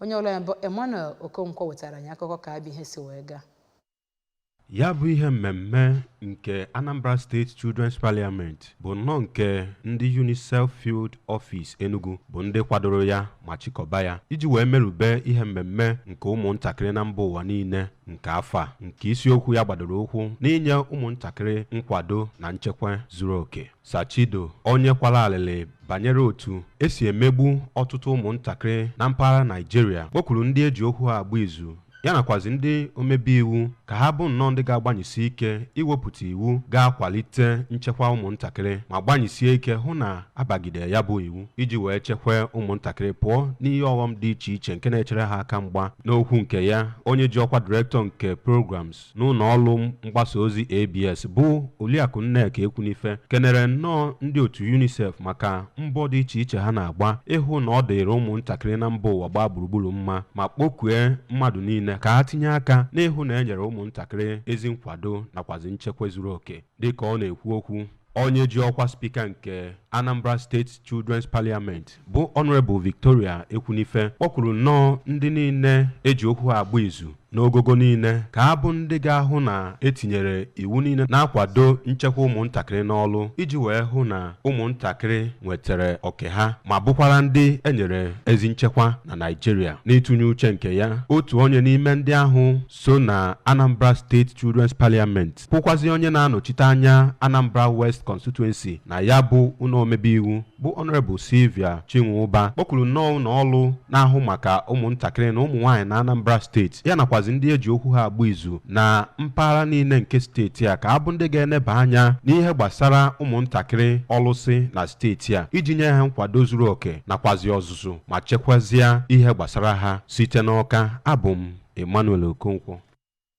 onye ọrụ anyị bụ Emmanuel Okonkwo wetara anyị akụkọ ka ya bụ ihe si wee gaa ya bụ ihe mmemme nke Anambra State Children's Parliament bụ nnọọ nke ndị UNICEF Field Office Enugu bụ ndị kwadoro ya ma chịkọba ya iji wee merube ihe mmemme nke ụmụntakịrị na mba ụwa niile nke afọ a nke isiokwu ya gbadoro ụkwụ n'inye ụmụntakịrị nkwado na nchekwa zuru oke Sir Chido onye kwara alịlị banyere otu esi emegbu ọtụtụ ụmụntakịrị na mpaghara Naịjirịa kpọkuru ndị eji okwu ha agba izu ya nakwazi ndị omebe iwu ka ha bụ nnọọ ndị ga-agbanyesi ike iwepụta iwu ga-akwalite nchekwa ụmụntakịrị ma gbanyesie ike hụ na abagide ya bụ iwu iji wee chekwaa ụmụntakịrị pụọ n'ihe ọghọm dị iche iche nke na-echere ha aka mgba n'okwu nke ya onye ji ọkwa direktọ nke programs n'ụnọ ọlụ mgbasa ozi ABS bụ Oliakụ Nneka Ekwunife kenere nnọọ ndị otu UNICEF maka mbọ dị iche iche ha na-agba ịhụ na ọ dịrị ụmụntakịrị na mba ụwa gbaa gburugburu mma ma kpọkue mmadụ niile ka ha tinye aka n'ịhụ na e nyere ụmụntakịrị ezi nkwado nakwazi nchekwa zuru oke dịka ọ na-ekwu okwu Onye ji ọkwa spika nke Anambra State Children's Parliament bụ Honorable Victoria Ekwunife kpọkwuru nnọọ ndị niile eji okwu ha agba izu n'ogogo niile ka ha bụ ndị ga-ahụ na etinyere iwu niile na-akwado nchekwa ụmụntakịrị n'ọlụ iji wee hụ na ụmụntakịrị nwetara oke ha ma bụkwara ndị enyere ezi nchekwa na Naịjirịa n'ịtụnye uche nke ya otu onye n'ime ndị ahụ so na Anambra State Children's Parliament bụkwazi onye na-anọchite anya Anambra West Constituency na ya bụ ụnọ omebe iwu bụ Honorable Sylvia Chinwụba kpọkwuru nnọọ ụnọ ọlụ na-ahụ maka ụmụntakịrị na ụmụ nwaanyị na Anambra steeti ya nakwazi ndị eji okwu ha agba izu na mpaghara niile nke steeti a ka ha bụ ndị ga-eneba anya n'ihe gbasara ụmụntakịrị ọlụsị na steeti a iji nye ha nkwado zuru oke nakwazi ọzụzụ ma chekwazie ihe gbasara ha site n'Ọka abụ m Emmanuel Okonkwo